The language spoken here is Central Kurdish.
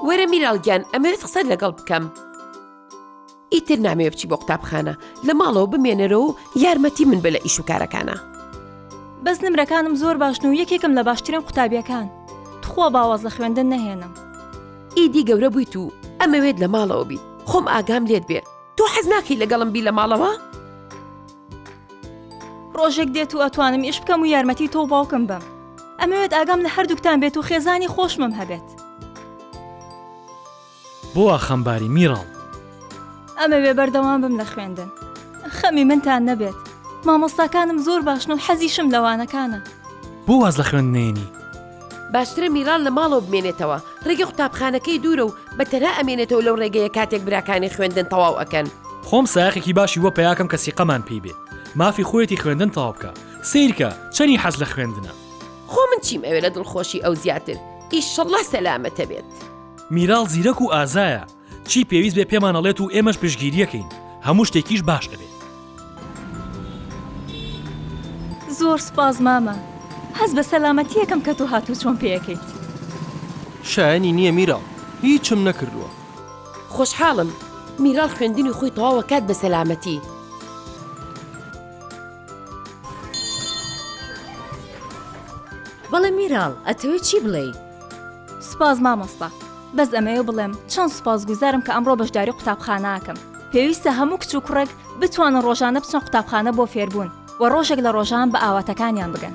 وەرە میراڵ گیان ئەمەوێت قسەت لەگەڵ بکەم ئیتر نامەوێ بچی بۆ قوتابخانە لە ماڵەوە بمێنەرەوە و یارمەتی من بە لە ئیش و کارەکانە بەس نمرەکانم زۆر باشن و یەکێکم لە باشترین قوتابیەکان تخوا باواز لە خوێندن نەهێنم ئیدی گەورە بوویت و ئەمەوێت لە ماڵەوە بی خۆم ئاگام لێت بێ تۆ حەز ناکەی لەگەڵم بی لە ماڵەوە؟ ڕۆژێک دێت و ئەتوانم ئیش بکەم و یارمەتی تۆ باوکم بم ئەمەوێت ئاگام لە هەردووکتان بێت و خێزانی خۆشمم هەبێت بۆ وا خەمباری میراڵ؟ ئەمەوێ بەردەوام بم لە خوێندن خەمی منتان نەبێت مامۆستاکانم زۆر باشن و حەزیشم لە وانەکانە. بۆ واز لە خوێندنەیەنی؟ باشترە میران لە ماڵەوە بمێنێتەوە ڕێگە قوتابخانەکەی دوورە و بە تەنها ئەمێنێتەوە لەو ڕێگەیە کاتێک براکانی خوێندن تەواو ئەکەن. خۆم سایەقێکی باشی بۆ پەیاکەم کە سیقەمان پێی بێ مافی خۆیەتی خوێندن تەواو بکا سەیرکە چەنی حەز لە خوێندنە. خۆ من چیم ئەوێ لە دڵخۆشی ئەو زیاتر ئیشەڵا سەلامەتە بێت. میراڵ زیرەک و ئازایە. چی پێویست بێ پێمان ئەڵێت و ئێمەش پشگیریەکەین هەموو شتێکیش باش ئەبێ. زۆر سوپاس مامە هەست بە سەلامەتیەکەم کە تۆ هاتوو چۆن پێەکەیت. شایەنی نییە میراڵ هیچم نەکردووە. خۆشحاڵم میراڵ خوێندنی خۆی تەواوەکات بە سەلامەتی. بەڵێ میراڵ ئەتەوێ چی بڵێی؟ سپاس مامۆستا بەس ئەمەوێ بڵێم چەند سپاس گوزارم کە ئەمڕۆ بەشداری قوتابخانەکەم پێویستە هەموو کچ و کوڕێک بتوانن ڕۆژانە بچەن قوتابخانە بۆ فێربوون و ڕۆژێک لە ڕۆژان بە ئاواتەکانیان بگەن